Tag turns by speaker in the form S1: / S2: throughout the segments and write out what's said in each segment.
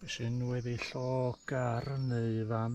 S1: Be sy'n wedi llog ar neu fan?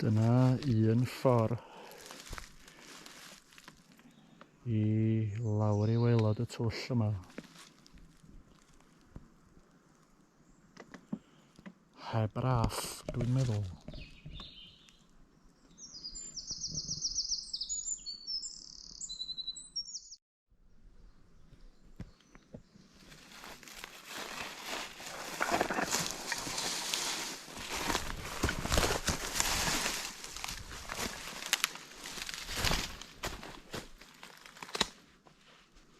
S1: Dyna un ffordd i lawr i waelod y twll yma. Heb raff, dwi'n meddwl.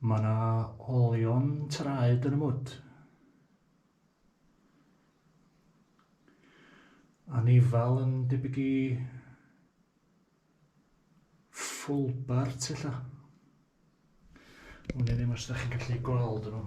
S1: Mae yna olion traed yn y mwd. Anifal yn debyg i fulbart ella. Wn i ddim os ydych chi'n gallu gweld nhw.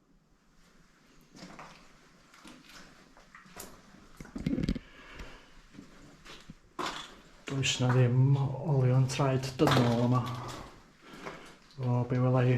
S1: Does na ddim olion traed dynol yma. O, be wela i.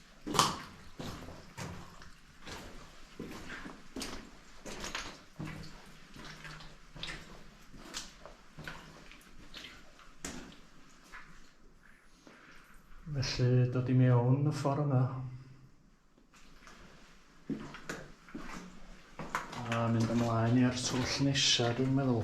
S1: Felly dod i mewn y ffordd yma. A mynd ymlaen i'r twll nesaf dwi'n meddwl.